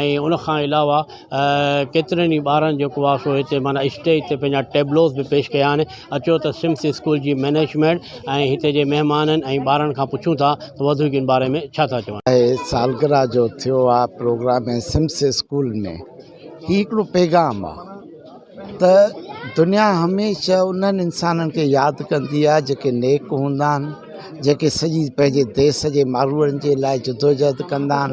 ۽ ان کان علاوه ڪيترن ئي ٻارن جيڪو آ سو هتي معنيٰ اسٽيج تي پنهنجا ٽيبلوز به پيش ڪيا آهن اچو ته سمس اسڪول جي مئنيجمينٽ ۽ هتي جي مهمانن ۽ ٻارن کان پڇون ٿا ته وڌيڪ ان باري ۾ ڇا ٿا چون. اهي سالگرهه جو ٿيو آ پروگرام ۽ سمس اسڪول ۾ هي هڪڙو پيغام آ ته دنيا هميشه انهن انسانن کي ياد ڪندي آ جيڪي نيڪ هوندا آهن جيڪي سڄي پنهنجي ديس جي ماروئڙن جي لاء جدوجهد ڪندا آهن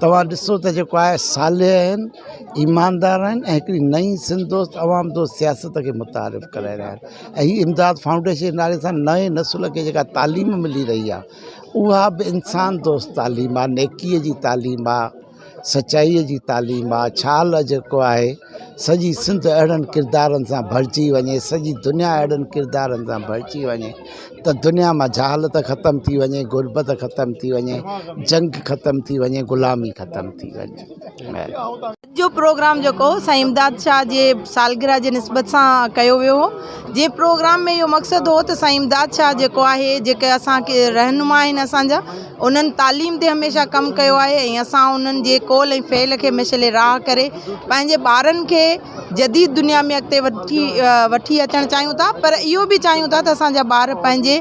توهان ڏسو ته جيڪو آء صالح آهن، ايماندار آهن ۽ هڪڙي نئين سنڌ دوست، عوام دوست سياست کي متعارف ڪرائي رهيا آهن ۽ هي امداد فائونڊيشن جي نالي سان نئين نسل کي جيڪا تعليم ملي رهي آهي اها به انسان دوست تعليم آهي، نيڪي جي تعليم آهي، سچائي جي تعليم آهي، ڇال جيڪو آهي. سڄي سنڌ اهڙن ڪردارن سان ڀرجي وڃي سڄي دنيا اهڙن ڪردارن سان ڀرجي وڃي ته دنيا مان جهالت ختم ٿي وڃي غربت ختم ٿي وڃي جنگ ختم ٿي وڃي غلامي ختم ٿي وڃي جو پروگرام جيڪو سائين امداد شاهه جي سالگرهه جي نسبت سان ڪيو ويو هو جنهن پروگرام ۾ اهو مقصد هو ته سائين امداد شاهه جيڪو آهي جيڪي اسانکي رهنما آهن اسانجا انهن تعليم تي هميشه ڪم ڪيو آهي ۽ اسان انهن جي قول ۽ فعل کي مشعل راهه ڪري پنهنجي ٻارن کي جديد دنيا ۾ اڳتي وٺي اچڻ چاهيون ٿا پر اهو به چاهيون ٿا ته اسان جا ٻار پنهنجي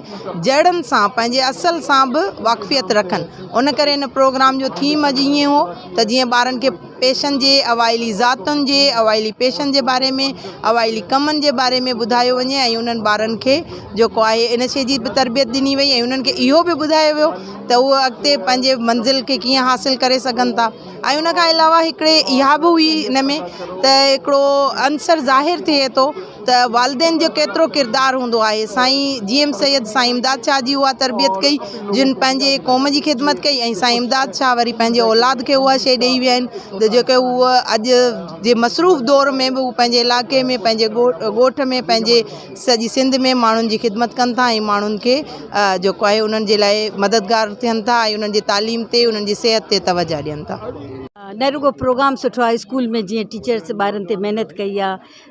جڙن سان پنهنجي اصل سان به واقفيت رکن ان ڪري ان پروگرام جو ٿيم اڄ ائين هو ته جيئن ٻارن کي پيشن جي اوائلي ذاتن جي اوائلي پيشن جي باري ۾ اوائلي ڪمن جي باري ۾ ٻڌايو وڃي ۽ انهن ٻارن کي جيڪو آهي ان شي جي به تربيت ڏني وئي ۽ انهن کي اهو به ٻڌايو ويو ته هو اڳتي پنهنجي منزل کي ڪيئن حاصل ڪري سگهن ٿا ۽ ان کان علاوه هڪڙي اها به هئي ان ۾ ته هڪڙو عنصر ظاهر ٿئي ٿو ته والدين جو ڪيترو ڪردار هوندو آهي سائين جي ايم سيد سائين امداد شاهه جي اها تربيت ڪئي جن پنهنجي قوم جي خدمت ڪئي ۽ سائين امداد شاهه وري پنهنجي اولاد کي اها شئي ڏئي ويا آهن ته جيڪي هو اڄ جي مصروف دور ۾ به هو پنهنجي علاقي ۾ پنهنجي ڳوٺ ۾ پنهنجي سڄي سنڌ ۾ ماڻهن جي خدمت ڪن ٿا ۽ ماڻهن کي جيڪو آهي انهن جي لاء مددگار ٿين ٿا ۽ انهن جي تعليم تي انهن جي صحت تي توجهه ڏين ٿا نه رڳو پروگرام سٺو آهي اسڪول ۾ جيئن ٽيچرس ٻارن تي محنت ڪئي آهي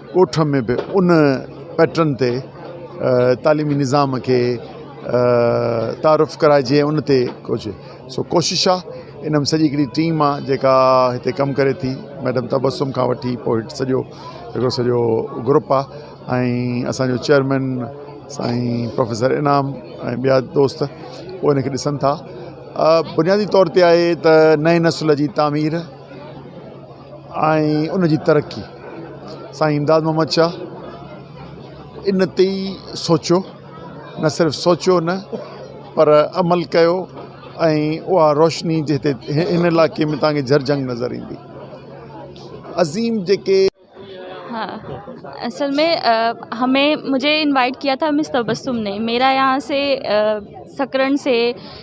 ڳوٺ ۾ به ان پيٽرن تي تعليمي نظام کي تعارف ڪرائجي ان تي ڪجهه سو ڪوشش آ ان ۾ سڄي هڪڙي ٽيم آ جيڪا هتي ڪم ڪري ٿي ميڊم تبسم کان وٺي پوء هيٺ سڄو هڪڙو سڄو گروپ آ ۽ اسانجو چيئرمين سائين پروفيسر انعام ۽ ٻيا دوست هو ان کي ڏسن ٿا بنيادي طور تي آهي ته نئين نسل جي تعمير ۽ ان جي ترقي سائين امداد محمد شاهه ان تي ئي سوچيو نه صرف سوچيو نه پر عمل ڪيو ۽ اها روشني جي هتي هن علائقي ۾ تهانکي جهرجهنگ نظر ايندي عظيم جيڪي ها اصل ۾ همي مجھي انوائٽ ڪيا ٿا مس تبسم ني ميرا يهان سي سڪرن سي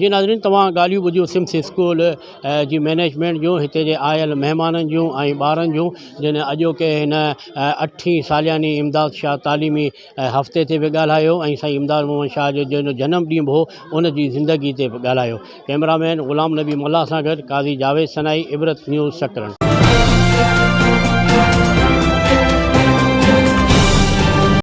جي ناظرين توهان ڳالهيون ٻڌيون سمس اسڪول جي مينيجمينٽ جون هتي جي آيل مهمانن جون ۽ ٻارن جون جن اڄوڪي هن اٺين سالياني امداد شاهه تعليمي هفتي تي به ڳالهايو ۽ سائين امداد محمد شاهه جو جنهن جو جنم ڏينهن به هو ان جي زندگي تي به ڳالهايو ڪئميرا مين غلام نبي ملاح سان گڏ قاضي جاويد سنائي عبرت نيوز سڪرنڊ.